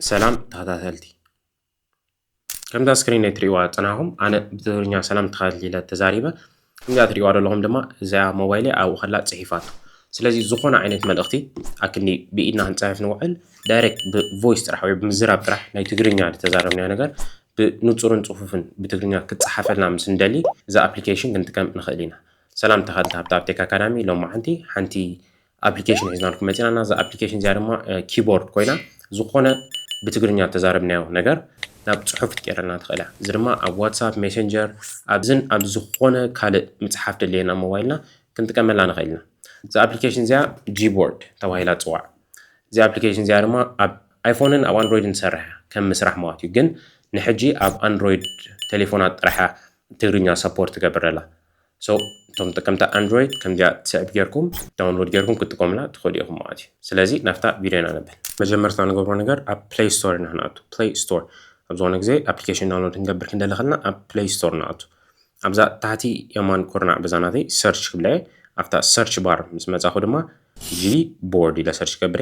ሰላም ተኸታተልቲ ከምዛ ስክሪን ናይ ትሪእዋ ፀናኹም ኣነ ብትግርኛ ሰላም ተኸታተልቲ ኢለ ተዛሪበ ከምዚኣ ትሪእዋ ዘለኹም ድማ እዚኣ ሞባይለ ኣብኡ ከላ ፅሒፋቶ ስለዚ ዝኾነ ዓይነት መልእኽቲ ኣክኒ ብኢድና ክንፅሕፍ ንውዕል ዳይሬክት ብቮይስ ጥራሕ ወይ ብምዝራብ ጥራሕ ናይ ትግርኛ ዝተዛረብናዮ ነገር ብንፁርን ፅፉፍን ብትግርኛ ክፀሓፈልና ምስ እንደሊ እዛ ኣፕሊኬሽን ክንጥቀም ንኽእል ኢና ሰላም ተኸታተልቲ ሃብታ ኣፕቴክ ኣካዳሚ ሎማዓንቲ ሓንቲ ኣፕሊኬሽን ሒዝናልኩም መፂና እና እዛ ኣፕሊኬሽን እዚኣ ድማ ኪቦርድ ኮይና ዝኾነ ብትግርኛ እተዛረብናዮ ነገር ናብ ፅሑፍ ትቀይረልና ትኽእል እያ እዚ ድማ ኣብ ዋትሳፕ ሜሴንጀር ኣብዝን ኣብ ዝኾነ ካልእ ምፅሓፍ ደለየና ሞባይልና ክንጥቀመላ ንኽእል ኢና እዛ ኣፕሊኬሽን እዚኣ ጂቦርድ ተባሂላ ትፅዋዕ እዚ ኣፕሊኬሽን እዚኣ ድማ ኣብ ኣይፎንን ኣብ ኣንድሮይድን ትሰርሕ ከም ምስራሕ ማለት እዩ ግን ንሕጂ ኣብ ኣንድሮይድ ቴሌፎናት ጥራሕ ትግርኛ ሰፖርት ትገብር ኣላ So እቶም ተጠቀምቲ ኣንድሮይድ ከምዚኣ ትስዕብ ጌርኩም ዳውንሎድ ጌርኩም ክትጥቀሙላ ትኽእሉ ኢኹም ማለት እዩ ስለዚ ናብታ ቪድዮ ኢና ንብል መጀመርታ ንገብሮ ነገር ኣብ ፕሌይ ስቶር ኢና ክንኣቱ ፕሌይ ስቶር ኣብ ዝኾነ ግዜ ኣፕሊኬሽን ዳውንሎድ ክንገብር ክንደሊ ከለና ኣብ ፕሌይ ስቶር ንኣቱ ኣብዛ ታሕቲ የማን ኩርናዕ በዛ ናተይ ሰርች ክብለ ኣብታ ሰርች ባር ምስ መጻኹ ድማ ጂ ቦርድ ኢለ ሰርች ገብረ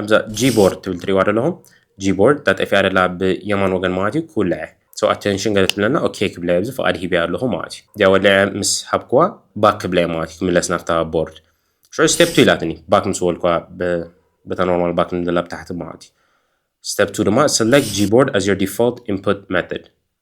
ኣብዛ ጂቦርድ ትብል ትሪእዋ ዘለኹም ጂቦርድ እታ ጠፊኣ ደላ ብየማን ወገን ማለት እዩ ክውልዐ ሰው ኣቴንሽን ገለ ትብለና ኦኬ ክብለ ኣብዚ ፍቓድ ሂበያ ኣለኹ ማለት እዩ እዚኣ ወሊዐ ምስ ሃብክዋ ባክ ክብለ እየ ማለት እዩ ክምለስ ናብታ ቦርድ ሽዑ ስቴፕ ቱ ኢላትኒ ባክ ምስ በልክዋ በታ ኖርማል ባክ ንደላ ብታሕቲ ማለት እዩ ስቴፕ ቱ ድማ ሰለክት ጂቦርድ ኣዝ ዮር ዲፎልት ኢንፑት መተድ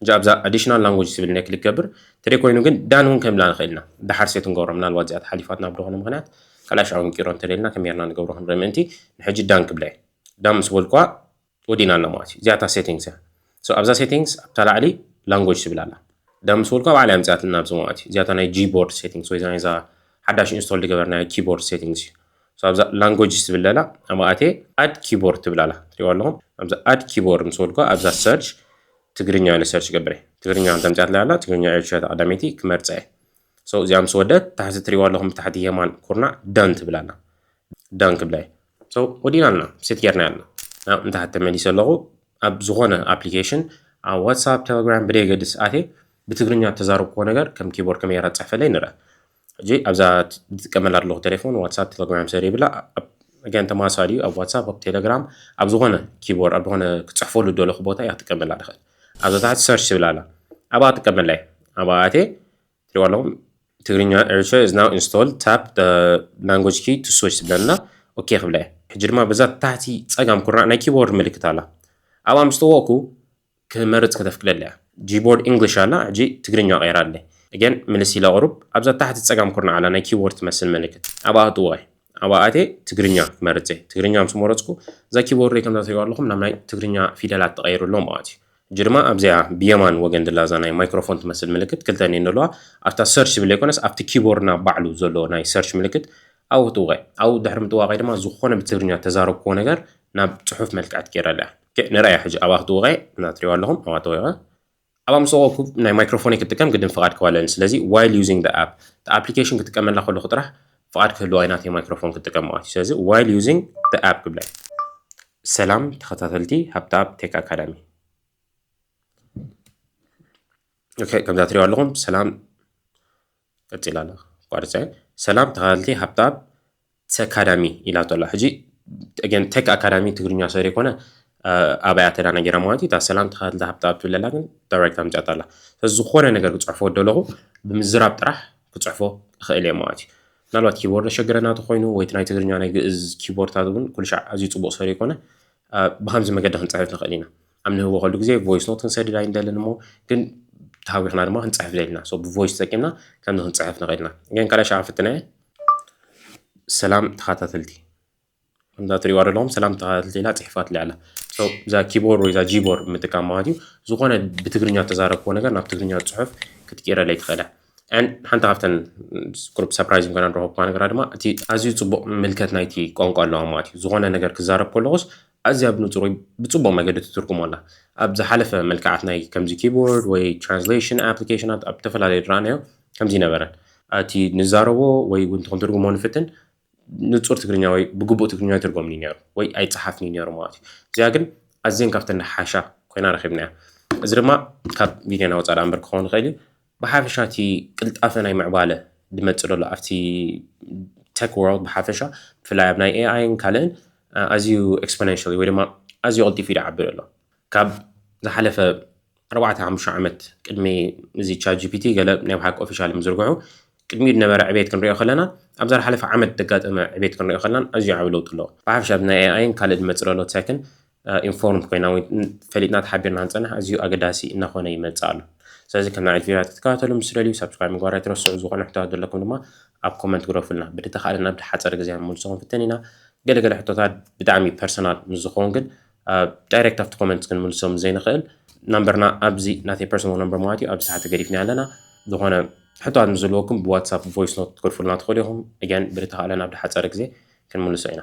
ሕጂ ኣብዛ ኣዲሽናል ላንጉጅ ትብል እነ ክሊክ ገብር ተደይ ኮይኑ ግን ዳን እውን ከንብላ ንክእል ኢና ዳሓር ሴት ክንገብሮ ምናልባት እዚኣ ተሓሊፋትና ብድኮነ ምክንያት ከላሽ ኣውን ቂሮ እንተደልና ከመይ ጌርና ንገብሮ ክንርኢ ምእንቲ ንሕጂ ዳን ክብላ እየ ዳን ምስ በልኩዋ ወዲና ኣላ ማለት እዩ እዚኣ እታ ሴቲንግስ እያ ሶ ኣብዛ ሴቲንግስ ኣብታ ላዕሊ ላንጉጅ ትብል ኣላ ዳን ምስ በልኩዋ ባዕላ የምፅኣትና ኣብዚ ማለት እዩ እዚኣ እታ ናይ ጂቦርድ ሴቲንግስ ወይ እዛ ናይዛ ሓዳሽ ኢንስቶል ዝገበርናያ ኪቦርድ ሴቲንግስ እዩ ኣብዛ ላንጎጅስ ትብል ዘላ ኣብኣ ኣትየ ኣድ ኪቦርድ ትብል ኣላ ትሪእዋ ኣለኹም ኣብዛ ኣድ ኪቦርድ ምስ በልኩ ኣብዛ ሰርች ትግርኛ ኢለ ሰርች ይገብር እየ ትግርኛ ከም ተምፅኣትለይ ኣላ ትግርኛ እየ ሸታ ቀዳመይቲ ክመርፀ እየ ሰው እዚኣ ምስ ወደት ታሕቲ ትሪእዋ ኣለኹም ታሕቲ የማን ኩርናዕ ዳን ትብል ኣላ ዳን ክብላ እየ ሰው ወዲና ኣለና ሴት ጌርና ኣለና ናብ እንታሕቲ ተመሊሰ ኣለኹ ኣብ ዝኾነ ኣፕሊኬሽን ኣብ ዋትሳፕ ቴሌግራም ብደየገድስ ኣትየ ብትግርኛ ተዛረብክዎ ነገር ከም ኪቦርድ ከመይ ጌራ ትፅሕፈለይ ንርኣ ሕጂ ኣብዛ ዝጥቀመላ ኣለኹ ተሌፎን ዋትሳፕ ተተግባዮም ሰር ይብላ ኣገን ተማሳሊ እዩ ኣብ ዋትሳፕ ኣብ ቴሌግራም ኣብ ዝኾነ ኪቦርድ ኣብ ዝኾነ ክጽሕፈሉ ደለኹ ቦታ እያ ክጥቀመላ ድኽእል ኣብዛ ታሕቲ ሰርች ትብል ኣላ ኣብኣ ክጥቀመላ እየ ኣብኣ ኣቴ ትሪዋ ኣለኹም ትግርኛ ኤርትራ is now installed tap the language key to switch ትብለና ኦኬ ክብላ እየ ሕጂ ድማ በዛ ታሕቲ ጸጋም ኩርናዕ ናይ ኪቦርድ ምልክት ኣላ ኣብኣ ምስ ተወቕኩ ክመርጽ ከተፍቅደሉ እያ። ጂቦርድ እንግሊሽ ኣላ ሕጂ ትግርኛ ቀይራ ኣለ እገን ምልስ ኢለ ቅሩብ ኣብዛ ታሕቲ ጸጋም ኩርናዕ ኣላ ናይ ኪቦርድ ትመስል ምልክት ኣብኣ ኣእትዎ እየ ኣብኣ ኣትየ ትግርኛ ክመርጽ እየ ትግርኛ ምስ መረጽኩ እዛ ኪቦርደይ ከምዛ ትሪእዋ ኣለኹም ናብ ናይ ትግርኛ ፊደላት ተቀይሩ ኣሎ ማለት እዩ ሕጂ ድማ ኣብዚኣ ብየማን ወገን ዘላ እዛ ናይ ማይክሮፎን ትመስል ምልክት ክልተ እየን ዘለዋ ኣብታ ሰርች ዝብል ዘይኮነስ ኣብቲ ኪቦርድና ባዕሉ ዘሎ ናይ ሰርች ምልክት ኣብኡ እትውቀ ኣብኡ ድሕሪ ምጥዋቀይ ድማ ዝኾነ ብትግርኛ ተዛረብክዎ ነገር ናብ ጽሑፍ መልክዕት ገይረላ እያ ኦኬ ንርኣያ ሕጂ ኣብኣ ክትወቐ እና ትሪእዋ ኣለኹም ኣብኣ ተወቐ ኣብኣ ምስ ወቐኩ ናይ ማይክሮፎነይ ክትጥቀም ግድን ፍቓድ ክህባ ኣለኒ ስለዚ ዋይል ዩዚንግ ደ ኣፕ እቲ ኣፕሊኬሽን ክጥቀመላ ከለኹ ጥራሕ ፍቓድ ክህልዋ ኢና እቲ ማይክሮፎን ክጥቀም ማለት እዩ ስለዚ ዋይል ዩዚንግ ደ ኣፕ ክብላ ሰላም ተኸታተልቲ ሃብቲ ኣፕ ቴክ ኣካዳሚ ኦኬ ከምዛ ትሪእዋ ኣለኹም ሰላም ቀጺላ ኣላ ኣቋርጸ ሰላም ተካታተልቲ ሃብታም ተክ ኣካዳሚ ኢላቶ ኣላ ሕጂ ኣገን ተክ ኣካዳሚ ትግርኛ ሰሪ ኮነ ኣብ ኣያ ተዳናጊራ ማለት እዩ እታ ሰላም ተካታተልቲ ሃብታም ትብል ኣላ ግን ዳይሬክት ኣምጽኣታ ኣላ ስለዚ ዝኾነ ነገር ክጽሕፎ ደለኹ ብምዝራብ ጥራሕ ክጽሕፎ እኽእል እየ ማለት እዩ ምናልባት ኪቦርድ ዘሸግረና ተኮይኑ ወይ ናይ ትግርኛ ናይ ግእዝ ኪቦርድታት እውን ኩልሻዕ ኣዝዩ ጽቡቕ ሰሪ ኮነ ብከምዚ መገዲ ክንጽሕፍ ንኽእል ኢና ኣብ ንህቦ ከሉ ግዜ ቮይስ ኖት ክንሰድድ ኣይንደልን እሞ ግን ተሃዊኽና ድማ ክንፅሕፍ ዘልና ሶ ብቮይስ ተጠቂምና ከምዚ ክንፅሕፍ ንኽእል ኢና ግን ካልኣይ ሸዓ ፍትና እየ ሰላም ተኸታተልቲ ከምዛ ትሪእዋ ዘለኹም ሰላም ተኸታተልቲ ኢላ ፅሒፋትለይ ኣላ እዛ ኪቦርድ ወይ እዛ ጂቦርድ ምጥቃም ማለት እዩ ዝኾነ ብትግርኛ ተዛረብክዎ ነገር ናብ ትግርኛ ፅሑፍ ክትቅይረለይ ትኽእለ ሓንቲ ካብተን ቁርብ ሰፕራይዝ ምኮና ንረኸብኩዋ ነገራ ድማ እቲ ኣዝዩ ፅቡቕ ምልከት ናይቲ ቋንቋ ኣለዋ ማለት እዩ ዝኾነ ነገር ክዛረብ ከለኹስ ኣዝያ ብንጹር ወይ ብጽቡቕ መገዲ ትትርጉሞ ኣላ። ኣብ ዝሓለፈ መልክዓት ናይ ከምዚ ኪቦርድ ወይ ትራንስሌሽን ኣፕሊኬሽናት ኣብ እተፈላለየ ዝረኣናዮ ከምዚ ነበረን። እቲ ንዛረቦ ወይ ውን እቲ ክንትርጉሞ ንፍትን ንጹር ትግርኛ ወይ ብግቡእ ትግርኛ ኣይትርጎምን'ዩ ነይሩ ወይ ኣይጸሓፍን'ዩ ነይሩ ማለት እዩ። እዚኣ ግን ኣዝየን ካብተን ዝሓሻ ኮይና ረኺብናያ። እዚ ድማ ካብ ቪድዮና ወጻኢ ደኣ እምበር ክኸውን ይኽእል እዩ። ብሓፈሻ እቲ ቅልጣፈ ናይ ምዕባለ ድመጽእ ደሎ ኣብቲ Tech World ብሓፈሻ ብፍላይ ኣብ ናይ AI ን ካልእን ኣዝዩ Exponentially ወይ ድማ ኣዝዩ ቀልጢፉ እዩ ድዓቢ ደሎ ካብ ዝሓለፈ ኣርባዕተ ሓሙሽተ ዓመት ቅድሚ እዚ ChatGPT ገለ ናይ ብሓቂ ኦፊሻሊ ምዝርግሑ ቅድሚኡ ድነበረ ዕብየት ክንሪኦ ከለና ኣብዛ ድሓለፈ ዓመት ደጋጠመ ዕብየት ክንሪኦ ከለናን ኣዝዩ ዓቢ ለውጢ ኣለዎ ብሓፈሻ ናይ AI ን ካልእ ድመጽእ ደሎ Tech ን ኢንፎርምድ ኮይና ወይ ፈሊጥና ተሓቢርና ንፀንሕ ኣዝዩ ኣገዳሲ እናኾነ ይመፅእ ኣሎ ስለዚ ከም ናዕል ቪድዮታት ክትከታተሉ ምስ ትደልዩ ሳብስክራይብ ምግባር ኣይትረስዑ ዝኾነ ሕቶታት ዘለኩም ድማ ኣብ ኮመንት ግደፉልና ብድተኻእለ ናብ ሓፀር ግዜ ንምልሶ ክንፍትን ኢና ገለገለ ሕቶታት ብጣዕሚ ፐርሰናል ምስ ዝኸውን ግን ዳይሬክት ኣብቲ ኮመንት ክንምልሶ ምስ ዘይንኽእል ናምበርና ኣብዚ ናተይ ፐርሰናል ነምበር ማለት እዩ ኣብዚ ታሕቲ ገዲፍና ኣለና ዝኾነ ሕቶታት ምስ ዘለወኩም ብዋትሳፕ ቮይስ ኖት ክትገድፉልና ትኽእሉ ኢኹም እያን ብድተኻእለ ናብ ድሓፀረ ግዜ ክንምልሶ ኢና